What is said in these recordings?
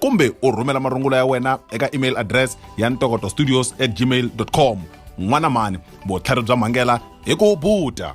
kumbe u rhumela marungula ya wena eka email address ya ntokoto studios at gmail com n'wana mani vutlhari bya mhangela hi ku buta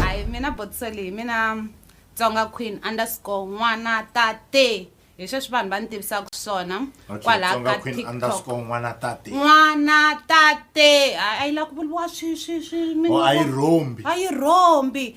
hayi mina botiso leyi mina tsonga queen underscore n'wana tate hi sweswi vanhu va ni tivisaka swona kwalaha ka tiktok n'wana tate n'wana tate a yi lava ku vuriwa swi swi swi a yi rhombi a yi rhombi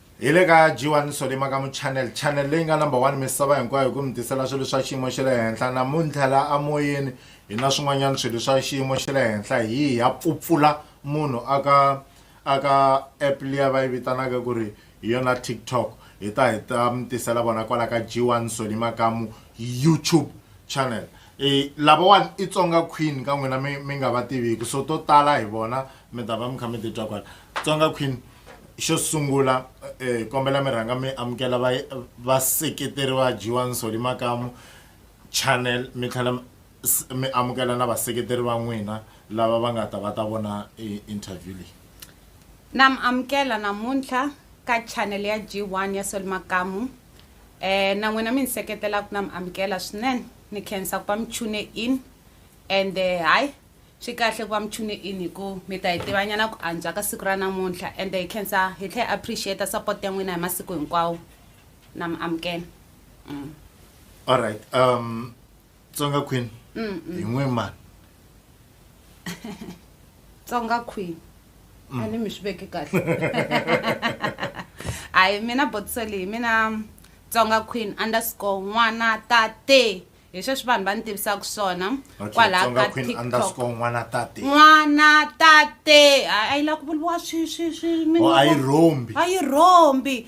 hi le ka g1 solima ka muchannel channel leyi nga number one misava hinkwayo hi ku mi tisela swilo swa xiyimo xa le henhla namuntlha la amoyeni hi na swin'wanyana swilo swa xiyimo xa le henhla hi ya pfupfula munhu aka aka app liya va yi vitanaka ku ri hi yona tiktok hi ta hi ta mi tisela vona kwala ka g1 solima kamu youtube channel e lavawani i tsonga queen ka n'wina mi mi nga va tiviki so to tala hi vona mi ta va mi kha mi titwa kwala tsonga queen xo sungula eh, kombela mi rhanga mi amukela va- vaseketeri va jiwani soli makamu channel mi tlhela mi- s- mi amukela na vaseketeri va n'wina lava va nga ta va ta vona eh, interview leyi na mi amukela namuntlha ka channel ya g1 ya sol makamu Eh, na n'wina mi ni seketela ku na mi amukela swinene ni khensa ku va mi tune in and eh, hayi swi kahle ku va mi tune in hi ku mi ta hi tivanyana ku antswa ka siku ra namuntlha and hi khensa hi tlhe appreciate support ya n'wina hi masiku hinkwawo na mi amukela mm. all right um tsonga queen hi n'we mani tsonga queen a ni mi swi veke kahle hayi mina botiso leyi mina tsonga queen underscore n'wana tate hi sweswi vanhu va ni tivisaka swona kwalaha ka tiktokn'wana tate a yi lavi ku vuriwa swi swi swi oh, a yi rhombi a yi rhombi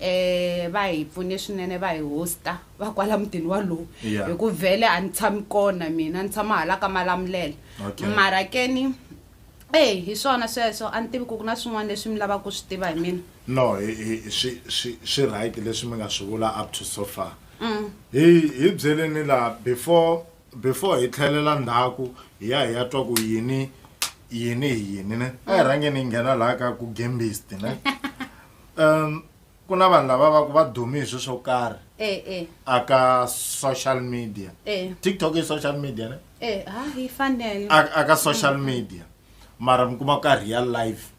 Eeh va hi pfune swinene va hi hosta va kwala mutini walowu Yeah. hi ku vhele a ni tshami kona mina ni tshama hala ka malamulela Okay. mara ke ni eyi hi swona sweswo a ni tivi ku ku na swin'wana leswi mi lavaka ku swi tiva hi mina no hi- hi- swi swi swi right leswi mi nga swi vula up to so far hi hi byeleni laha before before hi tlhelela ndzhaku hi ya hi ya twa ku yini yini hi yini ne a hi rhangeni hi nghena laha ka ku gembist ne um ku na vanhu lava va ku va dumi hi swi swo karhi eh, eh. aka social media eh. tiktok i social media ne eh, hi fanele aka social media mara mi kuma ka real life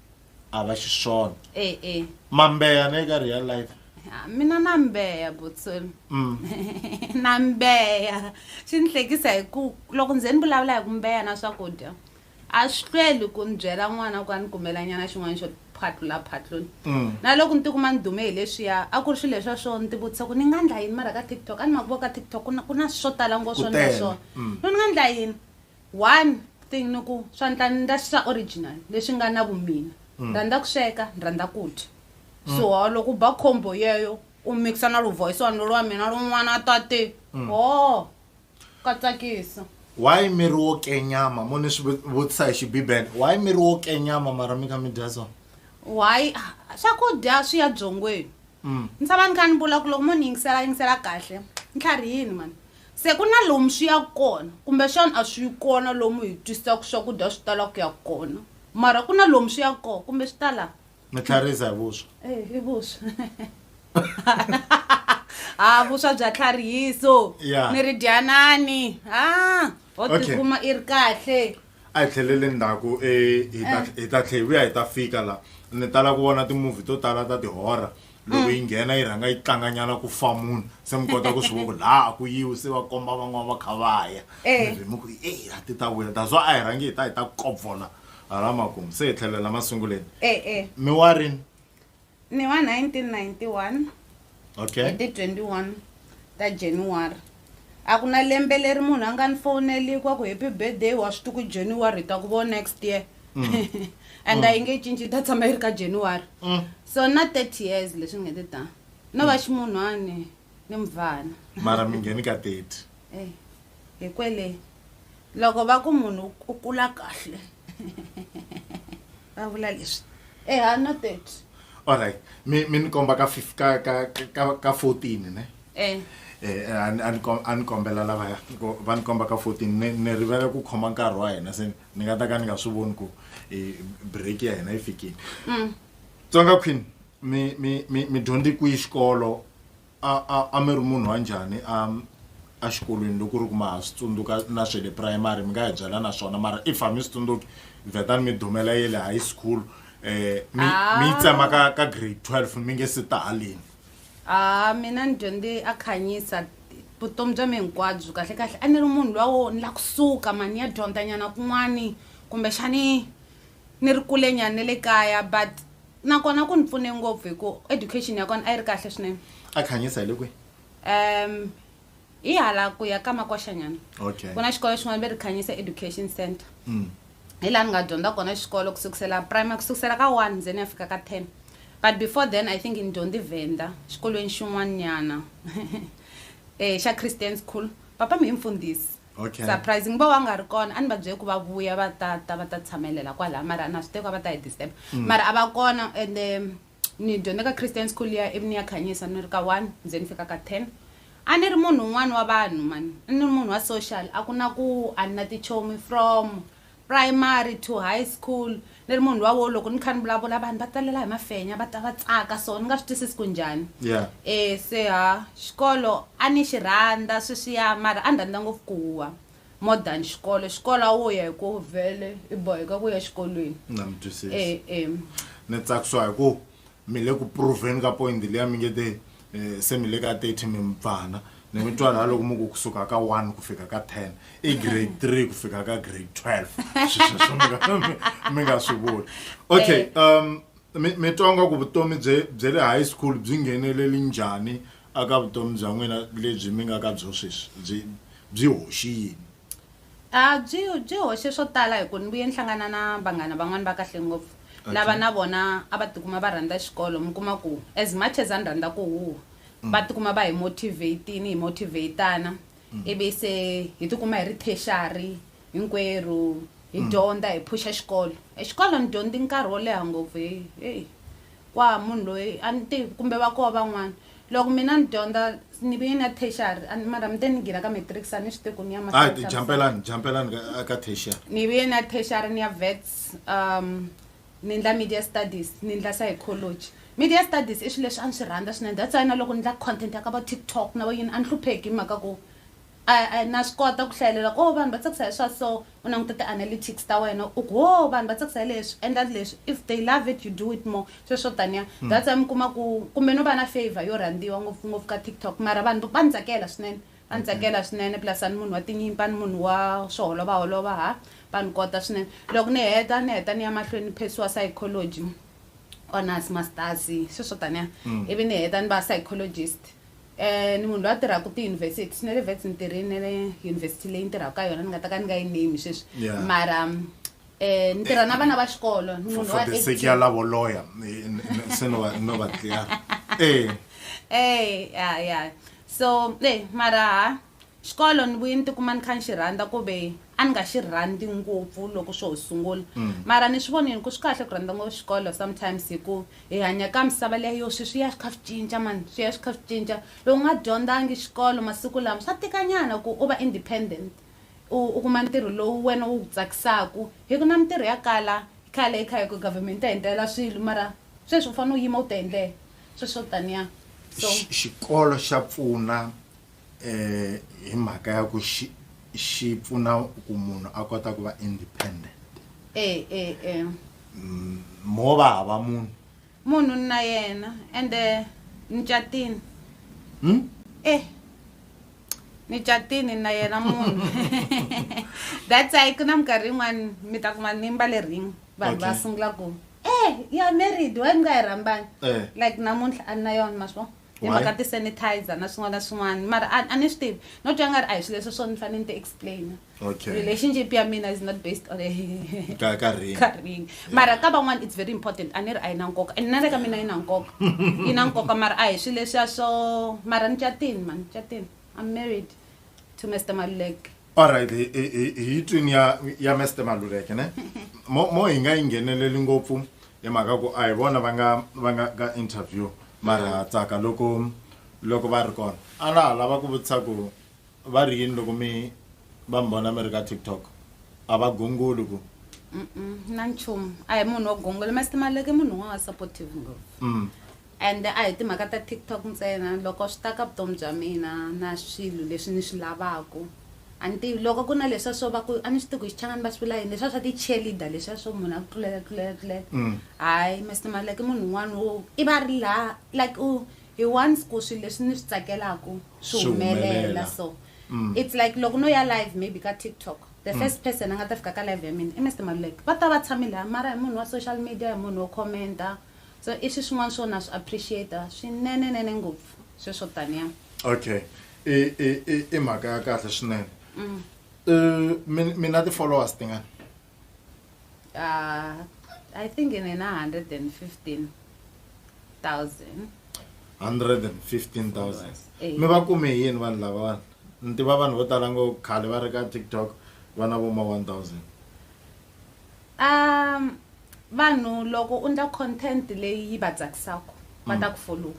a va xiswona eh, eh. mambeya ne ka real life ah, mina na mbeya butsolo mm. na mbeya swi ni hlekisa hi ku loko ndze ni vulavula hi ku mbeya na swakudya A swi hlweli ku ni byela n'wana ku a ni kumelanyana xin'wana xo phatlula phatlula. Na loko ni tikuma ni dume hi leswiya, a ku ri swilo leswiya swo ni tivutisa ku ni nga ndla yini mara ka TikTok. A ni ma ku vo ka TikTok ku na ku na swo tala ngopfu swo ndla swona. Ku ni nga ndla yini? One thing ni ku swa ndla ni ndla swa original leswi nga na vumina. Ni rhandza ku sweka, ni rhandza ku dya. So hawu loko u ba combo yeyo u mix-a na lu voice wa nuna wa mina lowun'wana a ta te, hoo! ka tsakisa why mi ri wo kenyama mo ni swi vutisa hi xibibele why mi ri wo kenyama mara mi kha mi dya swona why ah, swakudya swi ya byongweni Mm. ni tshama ni kha ni vula ku loko mo ni yingisela yingisela kahle ni tlharihini mani se ku na lomu swi ya kona kumbexana a swi yi kona lomu hi twisaka swakudya swi tala ku ya kona mara ku na lomu swi ya kona kumbe swi ta laha mi tlharisa hi vuswa Eh, i vuswa ha vuswa bya tlharihiso Yeah. mi ri dyanani ha ho Okay. tikuma i ri kahle a hi tlhelele ndzhaku eh, hi ta- hi ta tlhe hi vuya hi ta fika la ni tala ku vona timovhi to tala ta tihora loko yi nghena yi rhanga yi tlanganyana ku fa munhu se mi kota ku swi vona ku laha a ku yiwi se va komba van'wana va kha va ya Eh. mi ri mi ku e a ti ta vuya daswa a hi rhangi hi ta hi ta kopfola hala makumu se hi tlhelela masunguleni e-e mi wa rini ni wa 1991 okay hi ti 21 ta january a ku na lembe leri munhu a nga ni fowuneliki wa ku happy birthday wa swi tiku january hi ta ku vo next year and a yi nge cinci yi ta tshama yi ri ka january Mm. so na 30 years leswi nge ti ta no va ximunhwani ni muvhana mara mi ngheni ka teti Eh, hi kwele loko va ku munhu u kula kahle va vula leswi eha no thirty allright mi mi ni komba ka fif ka ka ka ka fourteen ne um a ni kombela lavaya va ni komba ka fourteen ni ni rivele ku khoma nkarhi wa hina se ni nga ta ka ni nga swi voni ku break ya hina yi fikile mm. tsonga queen mi mi mi mi dyondze kwihi xikolo a a a mi ri munhu wa njhani a a xikolweni loko ku ri ku ma ha swi tsundzuka na swe le primary mi nga hi byela na swona mara if a mi swi tsundzuki vetani mi dumela ye le high school um mi mi yi tsema ka ka grade twelve mi nge se ta haleni a mina ni dyondze a khanyisa vutomi bya mi hinkwabyo kahle kahle a ni ri munhu luwa wo ni la kusuka mani ni ya dyondzanyana kun'wani kumbexani Ni ri kule nyana ni le kaya but na kona ku ni pfune ngopfu hi ku education ya kona a yi ri kahle swinene. A Khanyisa hi le kwihi? Um hi hala ku ya ka Makwasha nyana. Okay. Ku na xikolo xin'wana va ri Khanyisa Education Centre. Hi laha ni nga dyondza kona xikolo ku sukusela primary ku sukusela ka one ni ze ni ya fika ka ten but before then I think ni dyondze Venda xikolweni xin'wana nyana xa Christian school. Papa mi hi mfundhisi. Okay. surprise ngiba wa nga ri kona a ni va byele ku va vuya va ta ta va ta tshamelela kwalaya mara na swi teko a va ta hi disturb mara a va kona and um, ni dyondze ka christian school ya ivi ni ya khanyisa ni ri ka one ze ni fika ka ten a ni ri munhu un'wana wa vanhu mani a ni ri munhu wa social a ku na ku a ni na tichomi from Primary to high school ni ri munhu luwa wo loko ni kha ni vulavula vanhu va talela hi mafenya va ta va tsaka so ni nga swi twisisi ku njhani Yeah. e se ha xikolo a ni xi rhandza sweswiya mara a ni rhandza ngopfu ku huwa more than xikolo xikolo a wo ya hi ku vhele i boheka ku ya xikolweni Na mi twisisa. e e Ni tsakisiwa hi ku mi le ku proveni ka point liya mi nge te um se mi le ka thirty mi mupfana ni mi twa laha loko mi ku kusuka ka one ku fika ka ten i grade three ku fika ka grade twelve swisweswo mi nga swi vuli okay eh. um mi twa nga ku vutomi bye bye le high school byi ngheneleli njhani aka vutomi bya n'wina lebyi mi nga ka byo sweswi byi byi hoxi yini A byi byi hoxe swo tala hi ku ni vuye ni hlangana na vanghana van'wana va kahle ngopfu lava na vona a va tikuma va rhandza xikolo mi kuma ku as much as a ni rhandza ku huha va tikuma va hi motivate-ini hi motivate-ana ivi se hi tikuma hi ri tertiary hinkwerhu hi dyondza hi phusha xikolo e xikolo ni dyondze nkarhi wo leha ngopfu heyi heyi. kwa munhu loyi a ni tivi kumbe va koho van'wana loko mina ni dyondza ni vi na tertiary a ni- mara mi te ni gira ka matric sa ni swi tivi ku ni ya ma- hayi jampelani jampelani ka- ka tertiary ni vi na tertiary ni ya vets um ni ndla media studies ni ndla psychology media studies i swilo leswi a ni swi rhandza swinene that's why na loko ni ndla content ya ka va tiktok na va yini a ni hlupheki hi mhaka ku I na swi kota ku hlayelela ku oh vanhu va tsakisa hi swa so u languta ti analytics ta wena u ku oh vanhu va tsakisa hi leswi endla leswi if they love it you do it more sweswo swo taniya that's why mi kuma ku kumbe no va na favour yo rhandziwa ngopfu ngopfu ka TikTok mara vanhu va ni tsakela swinene va ni tsakela swinene plus a ni munhu wa tinyimpi a ni munhu wa swo holova holova ha va ni kota swinene loko ni heta ni heta ni ya mahlweni ni phesiwa psychology honours masters sweswo taniya ivi ni heta ni va psychologist. ni munhu loyi a tirhaka tiyunivhesiti swi na le vets ni tirhini na le yunivhesiti leyi ni tirhaka ka yona ni nga ta ka ni nga yi name sweswi Yeah. mara um ni tirha na vana va xikolo ni for, munhu for wa the sake 18. ya lavo lawyer eh, n- n- se no va no va clear eh Eh, ya ya so eh mara ha Xikolo ni vuye ni ti kuma ni kha ni xi rhandza ku ve a ni nga xi rhandzi ngopfu loko swo ho sungula mara ni swi vonile ku swi kahle ku rhandza ngopfu xikolo sometimes hi ku hi hanya ka misava liya yo swi swi ya swi kha swi cinca mani swi ya swi kha swi cinca loko u nga dyondzangi xikolo masiku lama swa tika nyana ku u va independent u u kuma ntirho lowu wena wu ku tsakisaka hi ku na mintirho ya kala khale hi kha hi ku government yi ta hi endlela swilo mara sweswi u fanele u yima u ti endlela sweswo taniya so Xi- xikolo xa pfuna hi mhaka ya ku xi xi pfuna ku munhu a kota ku va independent e e e mo va hava munhu munhu ni na yena ende ni catini hmm? e ni catini na yena munhu that's why ku na minkarhi yin'wani mi ta kuma ni mbale ring vanhu va sungula ku e ya married wa ni nga yi rhambani eh. like namuntlha a ni na yona maswo hi mhaka ti-sanitizer na swin'wana na swin'wana mara a ni swi tivi no twa nga ri a hi swilo leswi swo ni fanele ni ti explaina okay. relationship ya mina is not based on ka ka ring ka ring yeah. mara ka van'wana it's very important a ni ri a yi na nkoka and na le ka mina yi na nkoka yi na nkoka mara a hi swilo leswiya swo mara ni catini mani catini i'm married to mr maluleke alright hi- hi hi- hi twini ya ya mester maluleke ne mo mo hi nga yi ngheneleli ngopfu hi mhaka ku a hi vona va nga va nga ka interview mara tsaka loko loko va ri kona a na ha lava ku vutisa ku va ri yini loko mi va mi vona mi ri ka tiktok a va gongoli ku Mm-mm, na nchumu a hi munhu wo gongolo mr maluleke i munhu un'wana wa supportive ngopfu mm. Ende a hi timhaka ta TikTok ntsena, loko swi ta ka vutomi bya mina na swilo leswi ni swi lavaka, a ni tivi loko ku ri na leswiya swo va ku a ni swi tivi ku hi Xichangani va swi vula yini leswiya swa ti cheerleader leswiya swo munhu a ku tlulela tlulela tlulela hayi Mister Maluleke i munhu un'wana wo i va a ri la like u he wants ku swilo leswi ni swi tsakelaka swi humelela so it's like loko no ya live maybe ka TikTok the first person a nga ta fika ka live ya mina i Mister Maluleke va ta va tshame laya mara hi munhu wa social media hi munhu wo comment-a. so i swi swin'wana swo na swi appreciate swinenenene ngopfu sweswo tania okay i i i i mhaka ya kahle swinene mm. uh, mina ti-followers tingani uh, i think in ina 115 thousand 115 thousand mi va kume hi yini vanhu lava vanhu ni tiva vanhu vo tala ngo khale va ri ka tiktok vana vo ma 1000 Um vanhu loko u ndla content leyi yi va tsakisaka va ta ku follow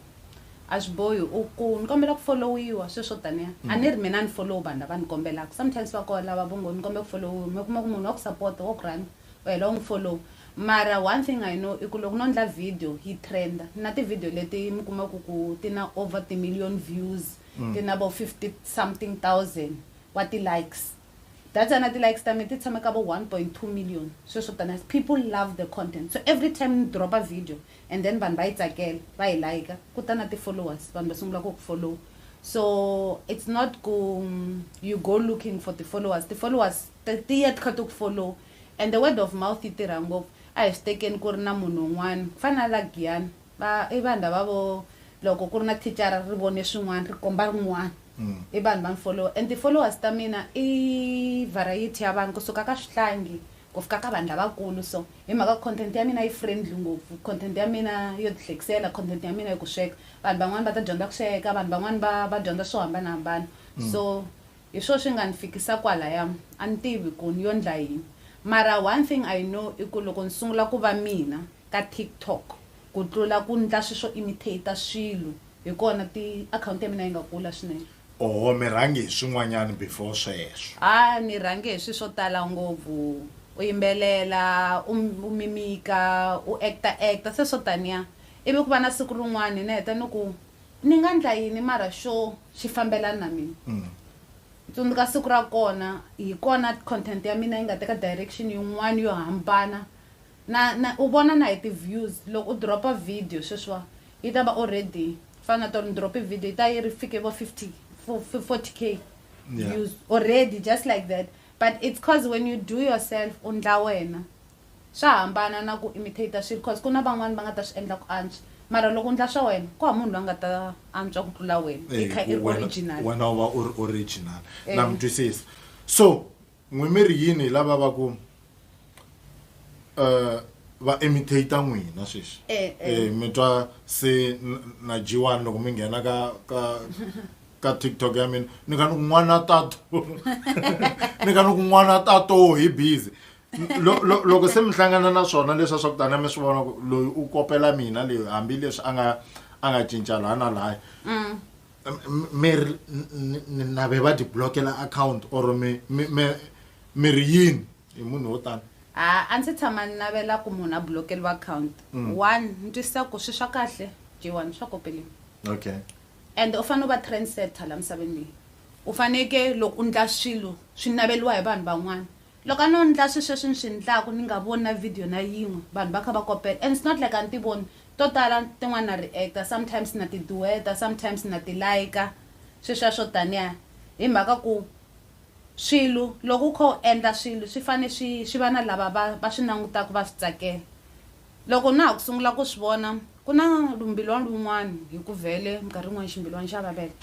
a swi bohi u ku ni kombela ku followiwa sweswi swo taniya a ni ri mina ni follow vanhu lava ni kombelaka sometimes va koho lava vo ngo ni kombela ku followiwa mi kuma ku munhu wa ku sapota wa ku rhandza u hela u n'wi follow mara one thing i know i ku loko no ndla video yi trend-a ni na ti-video leti mi kumaku ku ti na over ti-million views ti na vo fifty something thousand wa ti-likes Data na ti likes ta me ti tshame ka vo 1.2 million sweswo taniha people love the content so every time ni dropa video and then vanhu va yi tsakela va yi like ku ta na ti followers vanhu va sungula ku ku follow so it's not ku you go looking for ti followers ti followers ti ya ti kha ti ku follow and the word of mouth yi tirha ngopfu a hi swi tekeni ku ri na munhu un'wana ku fana na la Giyani Va, i vanhu lava vo, loko ku ri na thicara ri vone swin'wana ri komba rin'wana. I vanhu va ni follower and ti followers ta mina i variety ya vanhu ku suka ka swihlangi ku fika ka vanhu lavakulu so hi mhaka content ya mina yi friendly ngopfu content ya mina yo ti hlekisela content ya mina ya ku sweka vanhu van'wana va ta dyondza ku sweka vanhu van'wana va va dyondza swo hambanahambana so hi swo swi nga ni fikisa kwalaya a ni tivi ku ni yo ndla yini mara one thing I know i ku loko ni sungula ku va mina ka TikTok ku tlula ku ndla swi swo imitater swilo hi kona ti akhawunti ya mina yi nga kula swinene. Oho mi rhange hi swin'wanyana before sweswo. A ni rhange hi swi swo tala ngopfu u yimbelela u u mimika u actor actor se swo taniya ivi ku va na siku rin'wani ni heta ni ku ni nga ndla yini mara xo xi fambelana na mina ni tsundzuka siku ra kona hi kona content ya mina yi nga teka direction yin'wani yo hambana Na na u vona na hi ti views loko u dropa video sweswiwa yi ta va already fana na tolo ni drope video yi ta yi ri fike vo 50 40 k Yeah. views already just like that but it's cause when you do yourself u ndla wena swa hambana na ku imitator swilo cause ku na van'wani va nga ta swi endla ku antswa mara loko u ndla swa wena ku hava munhu loyi a nga ta antswa ku tlula wena i Eh, kha i ri wena- original wena u va u ri original Eh. na mi twisisa so N'wi mi ri yini hi lava va ku eh, va imitator n'wina sweswi Eh, eh. Eh, mi twa se n- na jiwani loko mi nghena ka ka ka tiktok ya mina ni ka ni ku n'wana tato ni ka ni ku n'wana tato hi busy Lo- lo- loko se mi hlangana na swona leswa swa ku tani mi swi vona ku loyi u kopela mina leyi hambileswi a nga a nga cinca laha na laya miri nave va ti blokela akhawunti or miri yini hi munhu wo tani a a ndzi tshama ni navela ku munhu a blokeriwa akhawunti mm. one ni twisisa ku swi swa kahle j one swa kopeleni okay and u fanele u va trendsetter la misaveni leyi u faneke loko u ndla swilo swi naveliwa hi vanhu van'wana Loko a no ndla swisweswi ni swi ndlaku ni nga voni na video na yin'we vanhu va kha va kopela and it's not like a ni ti voni to tala tin'wana na reactor sometimes na ti dueta sometimes na ti like sweswiya swo taniya hi mhaka ku swilu loko u kha u endla swilu swi fane swi swi va na lava va va swi nangutaku va swi tsakela. Loko na ha ku sungula ku swi vona, ku na lumbilwana lun'wana hi ku vhele, minkarhi yin'wana ximbilwana xa vaveka.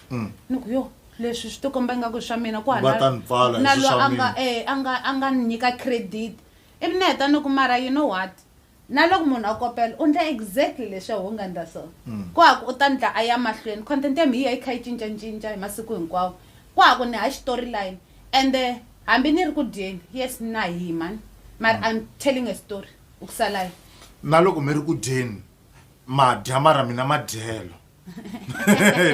Ni ku, Yoh, leswi swi tikomba ingaku i swa mina, ku hava na na loyi a nga e, a nga a nga ni nyika credit. Ivi ni heta ni ku, Mara you know what? Na loko munhu a kopela, u endla exactly leswi a wu nga endla swona. Ku hava u ta endla a ya mahlweni. Content ya mina yi ya yi kha yi cincacinca hi masiku hinkwawo. Ku hava ni hava xitoryline. Ende hambi ni ri ku dyeni, yes na hima mara I'm telling a story. u ku salai na loko mi ri ku dyeni madya mara mina madyelo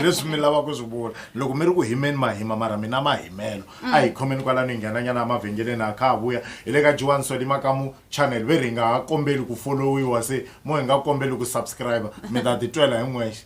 leswi mi lava ku swi vula loko mi ri ku himeni mahima mara mina mahimelo a hi mm. khomeni kwalano hi nghenanyana emavhengeleni a kha ha vuya hi le ka jiwani swali makamu channel ve ri hi nga ha kombeli ku folowiwa se mo hi nga kombeli ku subscribe mi ta titwela hi n'wexe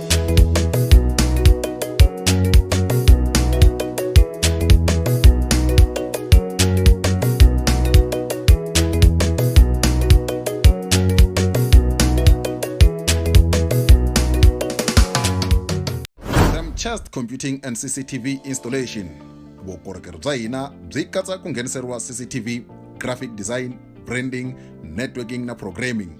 Chest Computing and CCTV Installation. Vukorhokeri bya hina byi katsa ku ngheniseriwa CCTV, graphic design, branding, networking na programming.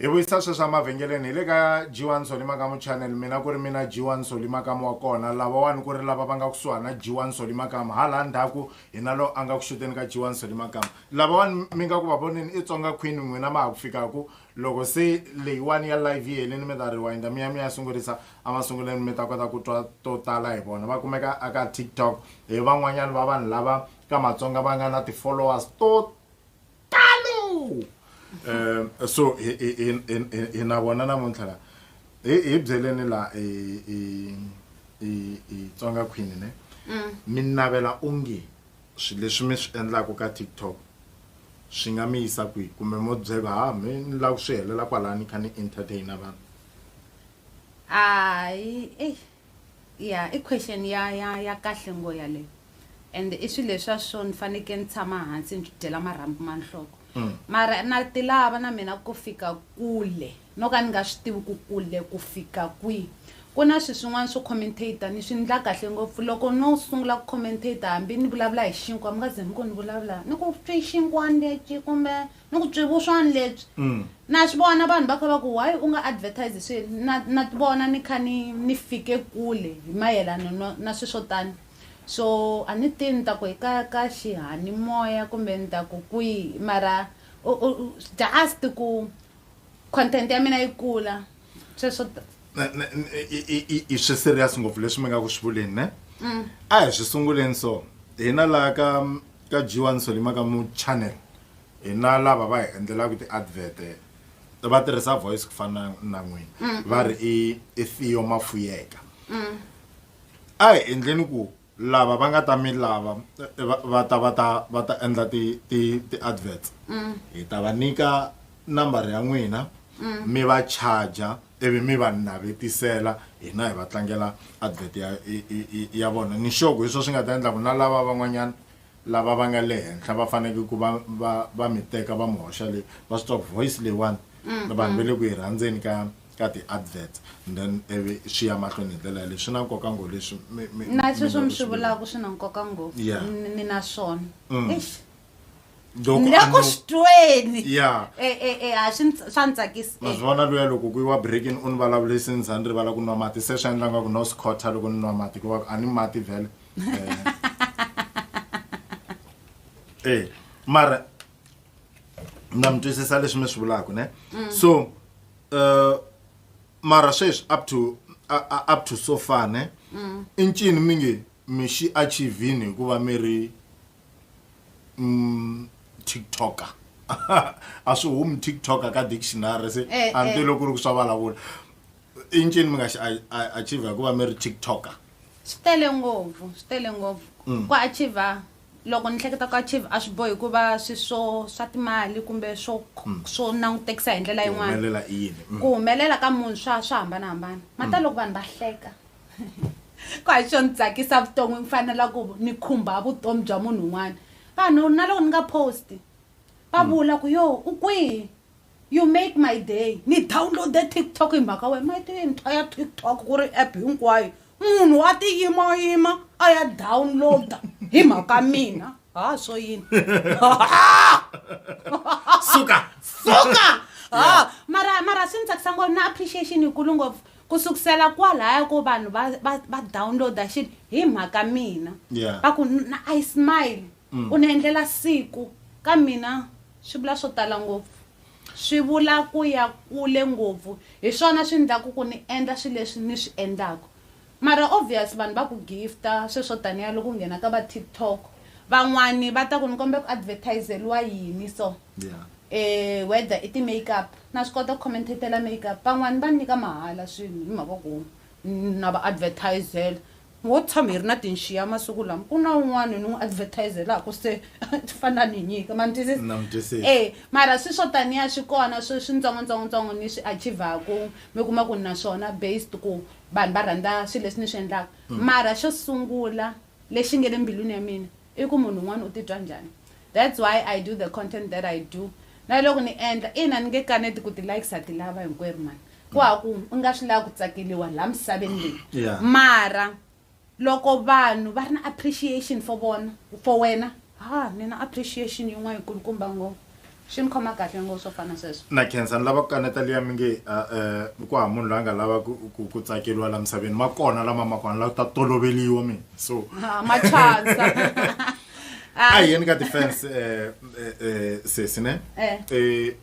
hi vuyisa sweswi emavhengeleni hi le ka g1 soli makamu channel mina ku ri mina g1 soli makamu wa kona lavawani ku ri lava va nga kusuhani na g1 soli makamu hala ndzhaku hi na lowu a nga ku xuteni ka g1 soli makamu lavawani mi nga ku va voneni i tsonga queen n'wina ma ha ku fikaku loko se leyiwani ya live yi helini mi ta rewinda mi ya mi ya sungurisa emasunguleni mi ta kota ku twa to tala hi vona va kumeka aka tiktok hi van'wanyani va vanhu lava ka matsonga va nga na ti-followers to tano um so hi- hi- hi- hi- hi- hi na vona namuntlha la hi hi byeleni la hi hi- hi- hi tsonga queen ne mi navela onge swilo leswi mi swi endlaka ka tiktok swi nga mi yisa kwihi kumbe mo byela ha mi ni lava ku swi helela kwalani kha ni entertaina vanhu hayi eyi ya i question ya ya ya kahle ngo yaleyo and i swilo leswa swo ni faneke ni tshama hansi ni swi dyela marhambu ma nhloko mm. mara na ti lava na mina ku fika kule no ka ni nga swi tivi ku kule ku fika kwihi ku na swi swin'wana swo commentator ni swi ndla kahle ngopfu loko no sungula ku commentator hambi ni vulavula hi xinkwa mi nga ze mi ku ni vulavula ni ku swi xinkwani lexi kumbe ni ku tswi vuswani lebyi mm. na swi vona vanhu va kha va ku why u nga advertise swi na na ti vona ni kha ni ni fike kule hi mayelana no na swi swo tani so a ni tivi ni ta ku hi ka ka xihanimoya kumbe ni ta ku kwihi mara just ku content ya mina yi kula sweswo i swi serious ngopfu leswi mi nga ku swi vuleni ne mm. a hi swi sunguleni so hina laha ka ka jiwani solima ka mu channel hina lava va hi endlelaka ti-advert va tirhisa voice ku fana na n'wina mm. va ri i i Theo Mafuyeka mm. a hi endleni ku lava va nga ta mi lava va ta va ta va ta endla ti ti ti-adverts mm. hi ta va nyika nambara ya n'wina mi va charger ivi mi va navetisela hina hi va tlangela advert ya ya vona ni xoko hi swo swi nga ta endla ku na lava van'wanyana Lava va nga le henhla va faneke ku va va va mi teka va mi hoxa le va swi twa ku voice leyiwani vanhu va le ku yi rhandzeni ka ka ti adverts and then ivi swi ya mahlweni hi ndlela yaleyo swi na nkoka ngo leswi mi mi na mi sweswo nga mi ku swi swi vula. vulaka swi na nkoka ngopfu Yeah. Ni- ni na swona Eish. Loko ni le a ku no- swi tweni Yeah. e e e ha swi ndz- swa ni tsakisa ma Eh, swi vona luya loko ku yiwa breaking u ni vulavulisi ni za ni rivala ku nwa mati se swi endla nga ku no swi khotha loko ni nwa mati ku va ku a ni mati vhele eh mara na mi twisisa leswi mi swi vulaka ne mm. so uh, mara sweswi up to uh, up to so far ne mm. i ncini mi nge mi xi achievini hikuva mi ri mm, tiktoker a swi humi tiktoker ka dictionary se eh, eh. antiloko ri ku swa vulavula i ncini mi nga xi achieve hikuva mi ri tiktoker Swi tele ngopfu, swi tele ngopfu. Ku achieve loko ni hleketa ku achieve a swi bohi ku va swi swo swa timali kumbe swo swo langutekisa hi ndlela yin'wana. Ku humelela i yini? Ku humelela ka munhu swa swa hambanahambana. Mhata loko vanhu va hleka ku hayi swo ni tsakisa vuton'wini ku fana na la ku ni khumba vutomi bya munhu un'wana. Vanhu na loko ni nga post-i va vula ku yo u kwihi? You make my day ni downloade TikTok hi mhaka wena ma tiva yintshwa ya TikTok ku ri app hinkwayo munhu a ti yimayima a ya downloada hi mhaka mina ha swo yini suka suka ha mara mara swi ni tsakisa ngopfu na appreciation yikulu ngopfu ku sukusela kwalaya ko vanhu va downloada xilo hi mhaka mina va ku i smile U ni endlela siku. Ka mina swi vula swo tala ngopfu. Swi vula ku ya kule ngopfu. Hi swona swi endlaka ku ni endla swilo leswi ni swi endlaka. Mara obvious vanhu va ku gift-a swilo swo taniya loko u nghena ka va TikTok. Van'wana va ta ku ni kombela ku advertise-riwa yini so. Whether i ti-makeup. Na swi kota ku commentate-la makeup. Van'wana va ni nyika mahala swilo hi mhaka ku na va advertise-ela. Ho tshama hi ri na tinxiya masiku lama, ku na un'wana ni n'wi advertise-elaku se ti fana ni nyika ma ni twisisa? Na mi twisisa. E, mara swi swo taniya swi kona swi swintsongo-ntsongo-ntsongo ni swi achieve-aku mi kuma ku ni na swona based ku vanhu va rhandza swilo leswi ni swi endlaka. Mara xo sungula lexi nge le mbilwini ya mina I ku munhu un'wana u titwa njhani. That's why I do the content that I do. Na loko ni endla, ina ni nge kaneti ku ti-likes ha ti lava hinkwerhu mhani. Ku hava ku u nga swi lava ku tsakeriwa laha misaveni leyi. Yeah. Mara loko vanhu va ri na appreciation for vona, for wena, ha ni na appreciation yin'wana yi kulukumba ngopfu. Swi ni khoma kahle ngo swo fana sweswo. Na khensa ni lava ku kaneta liya mi nge a um ku hava munhu loyi a nga lava ku ku ku tsakeriwa laha misaveni ma kona lama ma kona la ta toloveliwa mina so Ah, ma chansa. a hi yeni ka ti-fans um sesi ne Eh. Eh,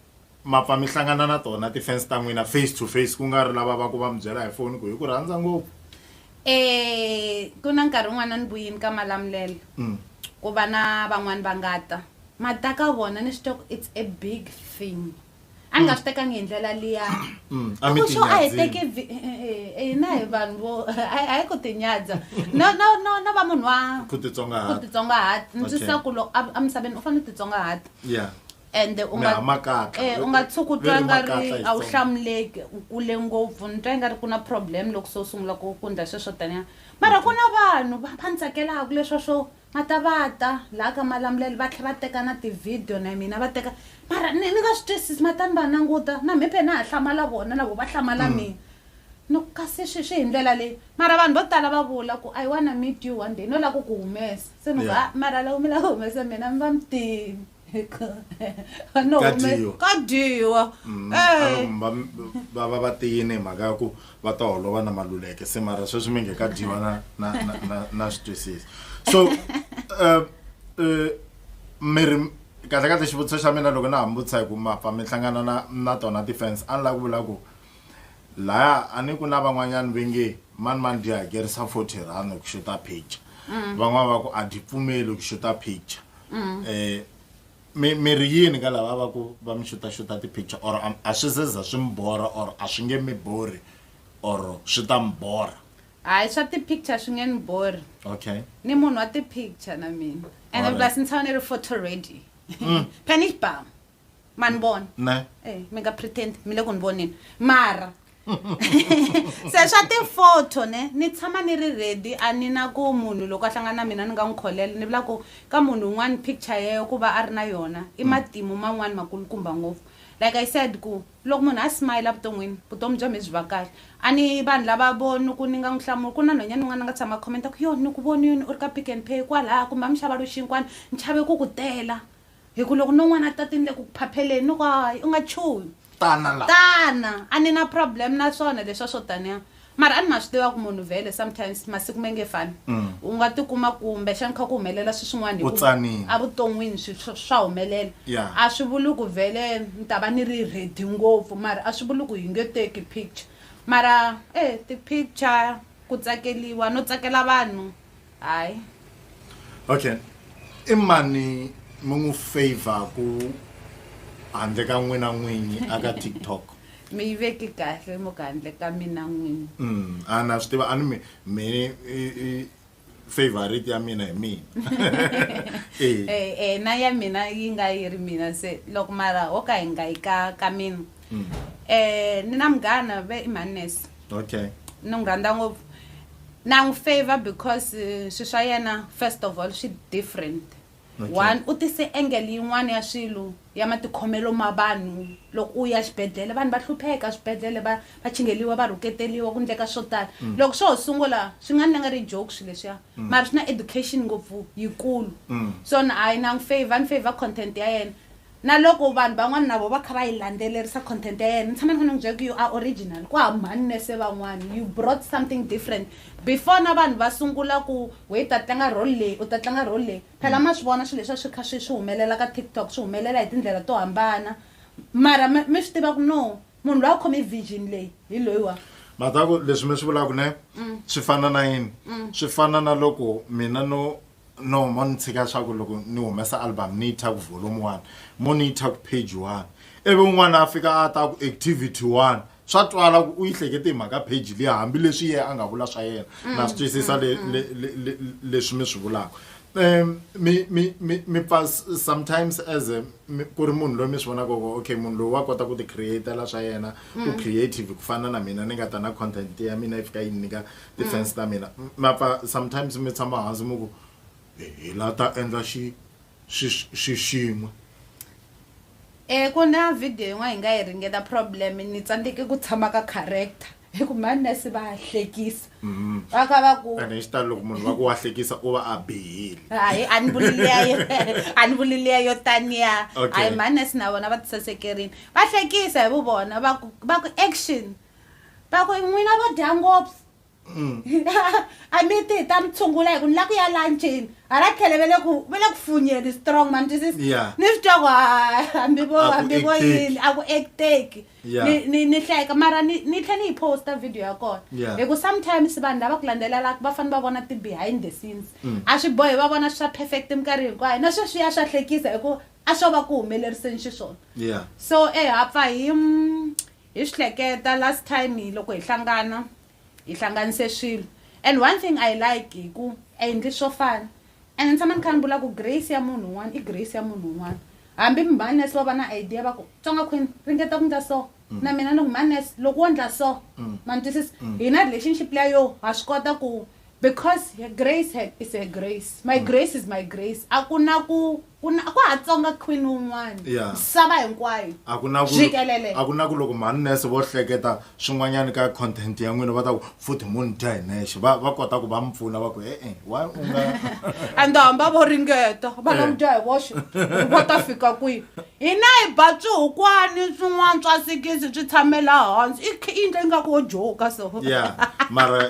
ma pfa mi hlangana na tona ti-fans ta n'wina face to face ku nga ri lava va ku va mi byela hi foni ku hi ku rhandza ngopfu Eh, ku na nkarhi wun'wana ni vuyini ka malamulela Mm. ku va na van'wani va nga ta Ma ta ka vona ni swi twa ku it's a big thing. A ni nga swi tekangi hi ndlela liya. Mm, a mi Ku xo a hi tinyadzini. teki vi- eh, eh, eh, hina hi vanhu vo a hi- a hi ku tinyadza. No no no no va munhu wa Ku titsongahata. ku titsongahata. Ndzi Okay. sa ku loko a- emisaveni u fanele u titsongahata. Yeah. ende u nga- Meha makatla. eh, u nga tshuki u twa Very nga ri makatla hi a wu Xitsonga. hlamuleki u kule ngopfu ni twa i nga ri ku na problem loko se u sungula ku ku ndla sweswo taniya mara ku na vanhu va va ni tsakelaka leswa swo Va ta va ta laha ka malamulelo va tlhela va teka na ti-video na mina va teka mara ni ni nga swi twisisi mara tani va languta na mhiphe na ha hlamala vona na vona va hlamala mm. mina ni ku kasi swi swi hi ndlela leyi mara vanhu vo tala va vula ku i wanna meet you one day no lava ku ku humesa se ni ku yeah. mara loko mi lava ku humesa mina mi va mi tini no Ka hume- dyiwa. ka dyiwa Mm, Eh. a va- va- va va va tiyini hi mhaka ya ku va ta holova na maluleke se mara sweswi mi nge ka dyiwa na na na na, na switwisisi so uh, uh, mi ri kahle kahle xivutiso xa mina loko na ha mi vutisa hi ku mapfa mi hlangana na na tona ti-fans a ni lava ku vula ku laya a ni ku na van'wanyana ve nge mani mani byi hakerisa forty rand ku xuta picture van'wana va ku a byi pfumeli ku xuta picture mm. eh mi mi ri yini ka lava va ku va mi xuta xuta ti picture or a swi zeza swi mbora or a swi nge mi bori or swi ta mbora hayi swa ti picture swi nge ni bori okay ni munhu wa ti picture na mina and plus ni tshama ni ri photo ready mm. panish bam ma ni vona ne Eh, mi nga pretend mi le ku ni voneni mara se swa ti-photo ne ni tshama ni ri ready a ni na ku munhu loko a hlangana na mina ni nga n'wi kholela ni vula ku ka munhu un'wana picture yeyo ku va a ri na yona i matimu man'wana makulukumba ngopfu like i said ku loko munhu a smile evuton'wini vutomi bya mi byi va kahle a ni vanhu lava vo ni ku ni nga n'wi hlamula ku na nhwanyana un'wana a nga tshama a khomenta ku yo ni ku vonini u ri ka pick and pay kwalaya kumbe a mi xava loxinkwana ni chave ku ku tela hi ku loko no n'wana a tatini le ku ku phapheleni ni ku hayi u nga chuhi tana la tana a ni na problem na swona leswa swo taniya mara a ni ma swi tiva ku munhu vhele sometimes masiku ma nge fani mm. u nga tikuma kumbe xani kha ku humelela swi swin'wana evuton'wini swi swa humelela a swi vuli ku vhele ni ta va ni ri redi ngopfu mara a swi vuli ku hi nge teki picture mara e ti-picture ku tsakeliwa no tsakela vanhu hayi okay i mani mi n'wi favhaku handle ka n'wina n'winyi aka tiktok mi yi veki kahle muka handle ka mina n'wini mm a na swi tiva a ni mi mi favorite ya mina hi mina eh. eh, eh na ya mina yi nga yi ri mina se loko mara ho ka hi nga yi ka ka mina mm. eh, ni na munghana ve i manness okay ni n'wi rhandza ngopfu na n'wi favor because eh, swi swa yena first of all swi different okay. one u tise engel yin'wana ya swilo ya matikhomelo ma vanhu loko u ya xibedhlele vanhu va hlupheka swibedhlele va va chingeliwa va rhuketeriwa ku ndleka swo tala mm. loko swo ho sungula swi nga ni nga ri joke swilo leswiya mm. mara swi na education ngopfu yikulu mm. so ni hayi na n'wi favor ni favor content ya yena Na loko vanhu van'wana na vona va kha va yi landzelerisa content ya yena, ni tshama ni kha ni n'wi byela ku you are original, ku hava mhani mi se van'wana, you brought something different before na vanhu va sungula ku wehe u ta tlanga role leyi, u ta tlanga role leyi. Phela ma swi vona swilo leswi a swi kha swi swi humelela ka TikTok, swi humelela hi tindlela to hambana mara mi mi swi tiva ku no munhu loyi a khome vision leyi hi loyiwa. Ma ta ku leswi mi swi vulaka ne swi fana na yini? Swi fana na loko mina no No, mo ni tshika leswaku loko ni humesa album ni yi tha ku volume one mo ni yi tha ku page one ivi un'wana a fika a ta ku activity one swa twala ku u yi hlekete hi mhaka page liya hambileswi yena a nga vula swa yena na swi twisisa le- le- le- le- leswi mi swi vulaka um mi mi mi mi pfa s- sometimes as a mi- ku ri munhu loyi mi swi vonaka ku okay munhu loyi wa kota ku ti createla swa yena u creative ku fana na mina ni nga ta na content ya mina yi fika yi ni nyika tifense ta mina ma pfa sometimes mi tshama hansi mi ku hi la ta endla xi xi xin'we Eh ku na video yin'wana hi nga yi ringeta problem ni tsandzeke ku tshama ka character hi ku manese va hlekisa mm-hmm. va kha va ku ene hi xitalo loko munhu va ku wa hlekisa u va a bihile hayi a ni vuliliyayo a ni vuliliyayo taniya hayi manese na vona va tisasekerini va hlekisa hi vu vona va ku va ku action va ku n'wina vo dya ngopfu mm. a mi ti ta mi tshungula hi ku ni la ku ya lanchini hala tlhele ve le ku ve le ku funyeni strong ma ni twisisa ni swi twa ku hambi vo hambi vo yini a ku acteki ni ni hleka mara ni ni tlhe ni yi posta video ya kona hi ku sometimes vanhu lava ku landzelelaka va fanele va vona ti-behind the scenes mm. a swi bohi va vona swa perfect minkarhi hinkwayo na sweswi ya swa hlekisa hi ku a swo va ku humeleriseni xiswona so eha pfa hi Hi swi hleketa last time loko hi hlangana hi hlanganise swilo and one thing I like hi ku a hi ndli swo fana and ni tshama ni kha ni vula ku grace ya munhu un'wana i grace ya munhu un'wana hambi mhanes va va na idea va ku tsonga queen ringeta ku ndla so mm. na mina ni ku mhanes loko wo ndla so mm. ma ni twisisa mm. hi na relationship leya yo ha swi kota ku because grace is a grace my mm. grace is my grace a ku na ku Ku na- ku ha tsonga queen wun'wana Yeah. misava hinkwayo a ku na ku jikelele a ku na ku loko manese vo hleketa swin'wanyana ka content ya n'wina va ta ku futhi munhu dya hi nexe va va kota ku va mi pfuna va ku e-e wa u nga and hamba vo ringeta va nga Eh. mu dya hi voxe ku va ta fika kwihi hina hi ba swihukwani swin'wana swa sikisi swi tshamela hansi i kh- i endle ingaku wo joka so ya mara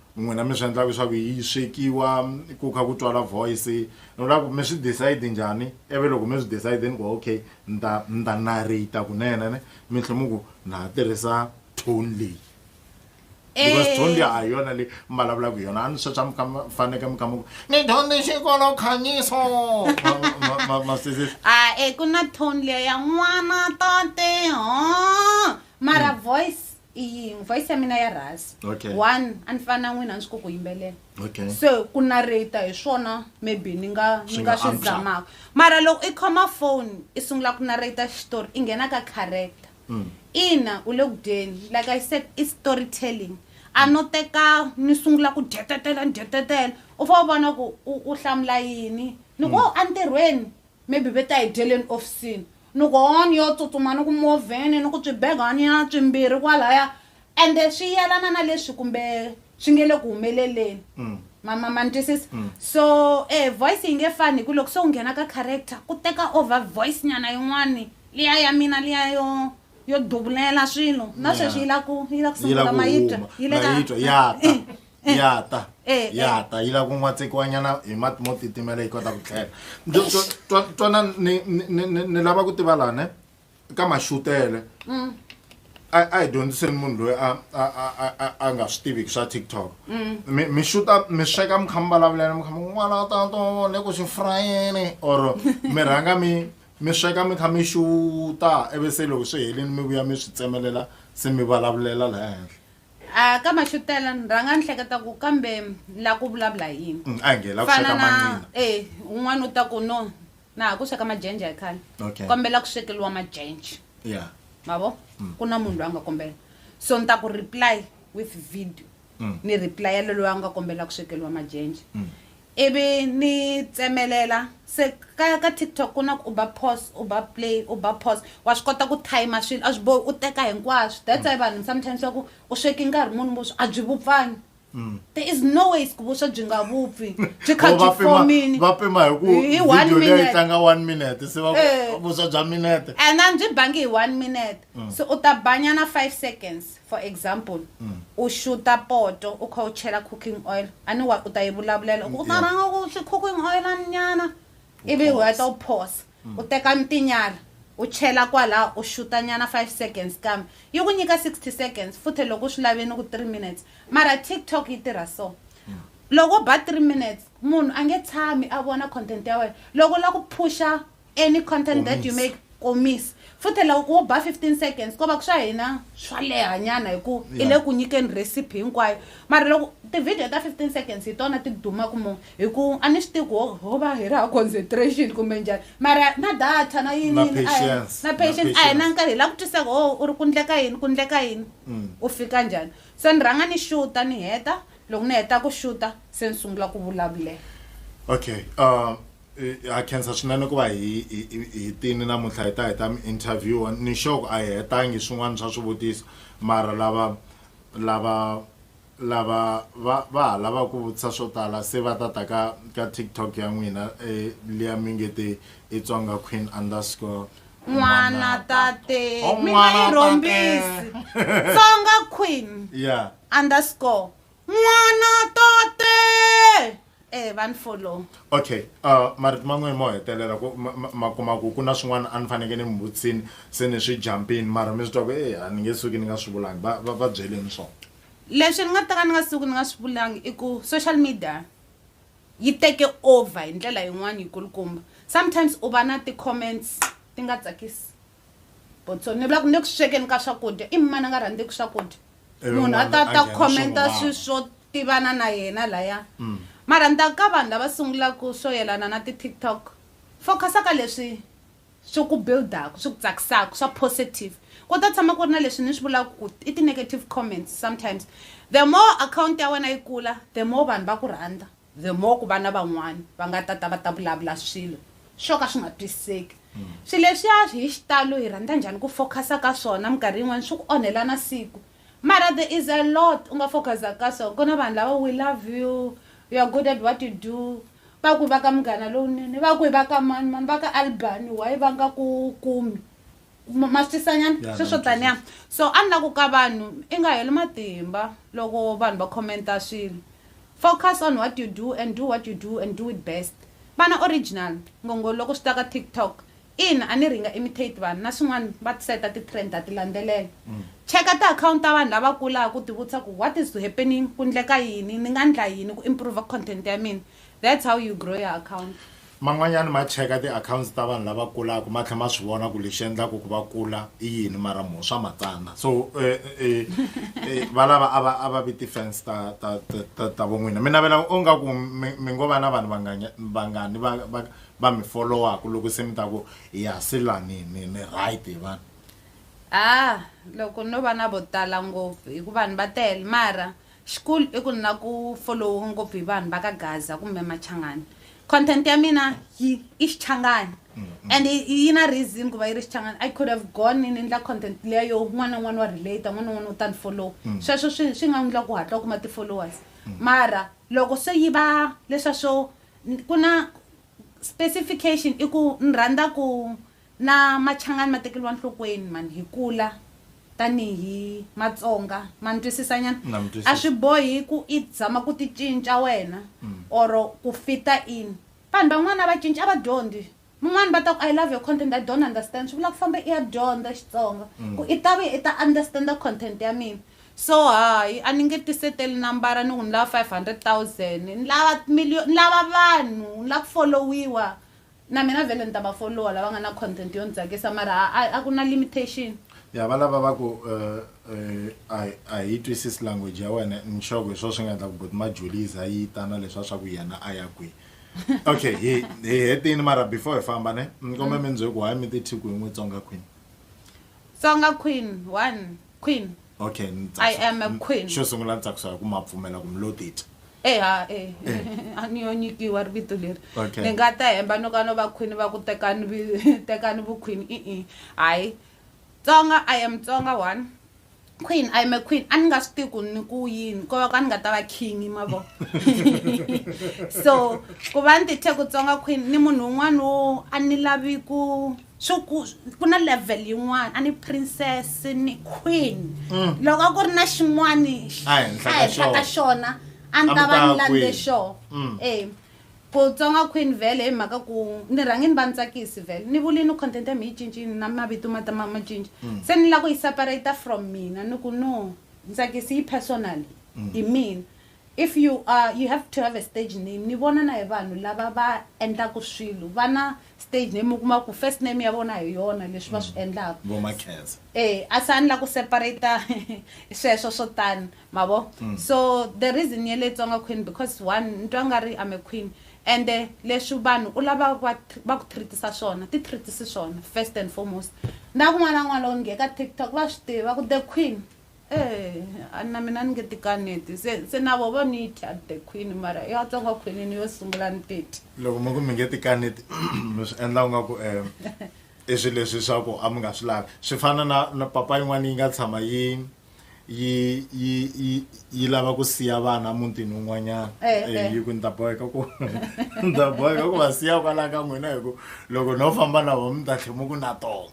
N'wina mi swi endla leswaku yi swekiwa ku kha ku twala voice ni vula ku mi swi decide njhani ivi loko mi swi decide ni ku okay ni ta ni ta narrator kunene ne mi tlhe mi ku na ha tirhisa tone leyi because tone liya a hi yona leyi mi vulavulaka hi yona a ni swa swa mi kha mi faneke mi kha mi ku ni dyondze xikolo khanyiso ma ma ma ma swi twisisa a e ku na tone liya ya n'wana tate ho mara voice i yini voice ya mina ya rhasi Okay. one a ni fana na n'wina a ni swi koti ku yimbelela Okay. se ku narrata hi swona maybe ni nga ni Swi nga nga swi antswa. zamaka mara loko i khoma phone i sungula ku narrata xitori i nghena ka character Mm. ina u le ku dyeni like i said i story telling a no teka ni sungula ku dyetetela ni dyetetela u fa u vona ku u u hlamula yini ni ku "Oh, entirhweni Maybe ve ta hi dyeleni ofisini. Ni ku hoo ni yo tsutsuma ni ku movheni ni ku swibegwaniya swimbirhi kwalaya ende swi yelana na leswi kumbe swi nge le ku humeleleni. Ma ma ma ni twisisa? So e voice yi nge fani hi ku loko se u nghena ka character ku teka over voice nyana yin'wani liya ya mina liya yo yo duvulela swilo na sweswi yi la ku yi la ku Yi la sungula ku ma yi twa huma. yi le Ma ka yi twa, ya ta. eh. ya ta eh, eh. ya ta yi lava ku n'watsekiwanyana hi mati mo titimela yi kota ku tlhela twana ni lava ku tiva lane ka maxutele mm. a hi dyondziseni munhu loyi a nga swi tiviki swa tiktok mm. mi xuta mi sweka mi kha mi vulavulana mi kha mi n'wana tato le ku swi frayeni or mi rhanga mi mi sweka mi kha mi xuta ivi se loko swi helini mi vuya mi swi tsemelela se mi vulavulela laha henhla A ka Maxutela ni rhanga ni hleketa ku kambe la ku vulavula hi yini. A nge la ku Fana sweka na mancina. e un'wana u ta ku no na ha ku sweka majenje a hi khale. Okay. Kombela ku swekeliwa majenje. Yeah. Ma vo? Ku na munhu loyi a nga kombela. So ni ta ku reply with video. Ni reply-ela loyi a nga kombela ku swekeliwa majenje. ivi ni tsemelela se ka ka TikTok ku na ku u ba pause u ba play u ba pause wa swi kota ku timer swilo a swi bohi u teka hinkwaswo that's why vanhu sometimes va ku u sweke nkarhi muni vuswa a byi vupfanga there is no ways ku vuswa byi nga vupfi byi kha Or va byi pima- fomini va pima hi ku Hi one video leyi minute. tlanga one minute se va Eh. ku vuswa bya minute and a byi bangi hi one minute so u ta banyana five seconds For example, u xuta poto u kha u chela cooking oil, a ni wa u ta yi vulavulela u ku u ta rhanga u ku xi cooking oil-ani nyana ivi u heta u phosa, u teka ni tinyala u chela kwala u xuta nyana five seconds kambe yi ku nyika sixty seconds futhe loko u swi lave ni ku three minutes mara TikTok yi tirha so loko u ba three minutes munhu a nge tshami a vona content ya wena loko u la ku phuxa Any content that you make komis futhi loko wo ba 15 seconds ko va ku swa hina swa leha nyana hi ku i le ku nyikeni recipe hinkwayo mara loko tivhidiyo ta 15 seconds hi tona ti dumaku mo hi ku a ni swi tivi ku ho va hi ri ha concentration kumbe njhani mara na data na yini yini na patient a hi na nkarhi hi la ku twisaka o u ri ku ndleka yini ku ndleka yini mm. u fika njhani se ni rhanga ni xuta ni heta loko ni heta ku xuta se ni sungula ku vulavulela okay uh... ha khensa swinene ku va hi hi tini namuntlha hi ta hi ta mi interview ni xoko a hi hetangi swin'wana swa swivutiso mara lava lava lava va va ha lavaka ku vutisa swo tala se va ta ta ka ka tiktok ya n'wina e, liya mi nge te i tsonga queen underscore n'wana tate oh, mi nga yi rhombisi tsonga queen yeah underscore n'wana tote eh van follow okay uh, marito man'we mo hetelela ku ma- ma- ma kuma ku ku na swin'wana a ni faneke ni mi vutisini se ni swi jumpini mara mi swi twa ku e a ni nge suki ni nga swi vulangi va va- va byeleni swona leswi ni nga taka ni nga suku ni nga swi vulangi i ku social media yi teke over hi ndlela yin'wana yikulukumba sometimes u va na ti-comments ti nga tsakisi Botsoni ni vula ku ni ku swekeni ka swakudya i mani a nga rhandzeki swakudya munhu a ta ta commenta swi swo tivana na yena laya mm. mara ni ta ka vanhu lava sungulaka swo yelana na ti-tiktok focusa ka leswi swi ku buildaka swi ku tsakisaka swa positive ku ta tshama ku ri na leswi ni swi vulaka ku i ti-negative comments sometimes the more account ya wena yi kula the more vanhu va ku rhandza The more ku vana van'wana va nga ta ta va ta vulavula swilo swo ka swi nga twisiseki. Swilo leswiya hi xitalo hi rhandza njhani ku focus-a ka swona, minkarhi yin'wana swi ku onhela na siku. Mara there is a lot u nga focus-aka ka swona. Ku na vanhu lava we love you, you are good at what you do, va ku i va ka Munghana Lowunene, va ku i va ka mani mani, va ka Albany why va nga ku kumi? maswisanyana yeah, sweswo taniya so a ni la ku ka vanhu i nga heli matimba loko vanhu va commenta swilo focus on what you do and do what you do and do it best vana original ngongo loko swi ta ka tiktok in a ni ringa imitate vanhu na swin'wana va tiseta ti-trend a ti landzelela mm. cheka ti-akhawunti ta vanhu lava kulaka ku tivutisa ku what is happening ku ndleka yini ni nga ndla yini ku improve content ya mina That's how you grow your account. Man'wanyana ma cheka ti accounts ta vanhu lava kulaka ma tlhela ma swi vona ku lexi endlaka ku va kula i yini mara mo swa matsana so valava a va a va vi ti-fans ta ta ta ta vo n'wina mi navela onga ku mi mi ngo va na vanhu vanganya vangani va va va mi followaka loko se mi ta ku ya se la ni ni ni right hi vanhu ah loko no va na vo tala ngopfu hikuva vanhu va tele mara Xikulu i ku ni la ku folowiwa ngopfu hi vanhu va ka Gaza kumbe Machangani. Content ya mina yi i Xichangani and yi na reason ku va yi ri Xichangani. I could have gone ni ni endla content liya yo un'wana na un'wana wa relate-a, un'wana na un'wana u ta ni folowa. Sweswo swi swi nga endla ku u hatla u kuma ti-followers. Mara loko se yi va leswiya swo ku na specification i ku ni rhandza ku Na Machangani ma tekeriwa nhlokweni mhani hi kula tani hi Matsonga ma ni twisisa nyana Na mi twisisa. a swi bohi ku i zama ku ti cinca wena or ku fita in vanhu van'wana a va cinci a va dyondzi mun'wana va ta ku I love your content I don't understand swi vula ku famba i ya dyondza Xitsonga ku i ta vuya i ta understand content ya mina so hayi a ni nge ti seteli nambara ni ku ni lava five hundred thousand ni lava million ni lava vanhu ni lava ku follow-iwa Na mina vhele ni ta va follower lava nga na content yo ni tsakisa mara a a a ku na limitation. Ya valava va ku uh uh a hi yi twisisi language ya wena ni sure ku hi swo swi nga endla ku buti Majuli yi za yi ta na leswa swa ku yena a ya kwihi okay hi hi hetini mara before hi famba ne ni kombela mi ni bye ku why mi ti thyi ku hi n'wi Tsonga Queen. Tsonga Queen one Queen. Okay, ni tsakisa- I am a ni- queen. Xo sungula ni tsakisa hi ku ma pfumela ku mi lo titwa. eha e a ni yo nyikiwa ri vito leri Okay. ni nga ta hemba no ka no va khwini va ku tekani vi- tekani vukhwini i-i hayi tsonga i am tsonga one queen i am a queen a ni nga swi tivi ku ni ku yini ko va ka ni nga ta va king mavo so ku va ni tithe ku tsonga queen ni munhu un'wana wo a ni lavi ku swi ku ku na level yin'wana a ni princess ni queen Mm. loko a ku ri na xin'wani A henhla a ka henhla ka xona. xona a ni A ta ku va ta ni lande queen. xoo Mm. e ku tsonga queen vele hi mhaka ku ni rhangi ni va ni tsakisi vele ni vuli ni content ya mi yi cincini na mavito ma ta ma ma cinca Mm. se ni lava ku yi separate from mina ni ku no ntsakisi yi personal hi mina If you are you have to have a stage name ni vona na hi vanhu lava va endlaku swilo va na stage name u kuma ku first name ya vona hi yona leswi va swi endlaku vo makheza e a se a ni la ku separata sweswo swo tani ma vo so the reason ya le tsonga queen because one ni twa nga ri i'm a queen ende leswi vanhu u lava va tr- va ku treatisa swona ti treatisi swona first and foremost na kun'wana na kun'wana loko ni nge ka tiktok va swi tiva ku the queen Eeh na mina ni nge ti kaneti se se na vo va ni yi dya the queen mara ya tsonga khwinini yo sungula ni ti dya loko mi ku mi nge ti kaneti mi swi endla nga ku um i swilo leswi swa ku a mi nga swi lavi swi fana na na papa yin'wana yi nga tshama yi yi yi yi yi lava ku siya vana mutini wun'wanyana Eh, Eh, eh. yi ku ni ta boheka ku ni ta boheka ku va siya kwalaya ka n'wina hi ku loko no famba na vo mi ta tlhe mi ku na tona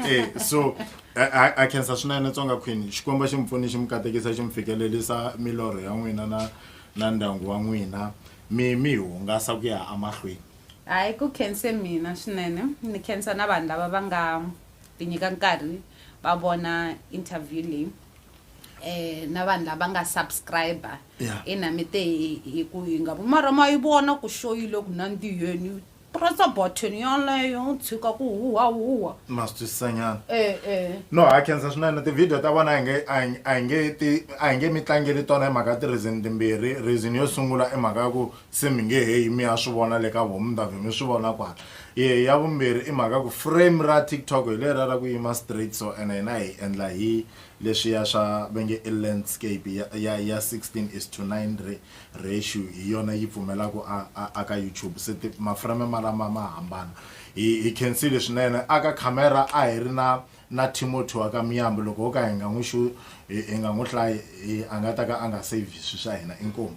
Eh, so A a a khensa swinene Tsonga Queen. Xikwembu xi mi pfuni xi mi katekisa xi mi fikelerisa milorho ya n'wina na na ndyangu wa n'wina mi mi hungasa ku ya amahlweni. Hayi ku khense mina swinene ni khensa na vanhu lava va nga ti nyika nkarhi va vona interview leyi na vanhu lava nga subscriber. Ina mi te hi ku hi nga vi mara ma yi vona ku show yi le ku nandziheni Pressa button yoleyo u tshika ku huhwahuhwa. Ma swi twisisanyana. E e. No ha khensa swinene ti-video ta vona a hi nge a hi a hi nge ti a hi nge mi tlangeli tona hi mhaka ti-reason timbirhi. Reason yo sungula i mhaka ya ku se mi nge he yi mi ya swi vona le ka voho mi ta vhe mi swi vona kwala. Ya vumbirhi i mhaka ya ku frame ra TikTok hi leriya ra ku yima straight so ene hina hi endla hi Leswiya swa va nge i landscape ya ya ya 16 is to 9 re ratio hi yona yi pfumelaku a a a ka YouTube se ti maframe malama ma hambana hi hi khensile swinene a ka camera a hi ri na na Timothy wa ka Miyambu loko ho ka hi nga n'wi xu hi hi nga n'wi hlayi hi a nga ta ka a nga save swi swa hina inkomu.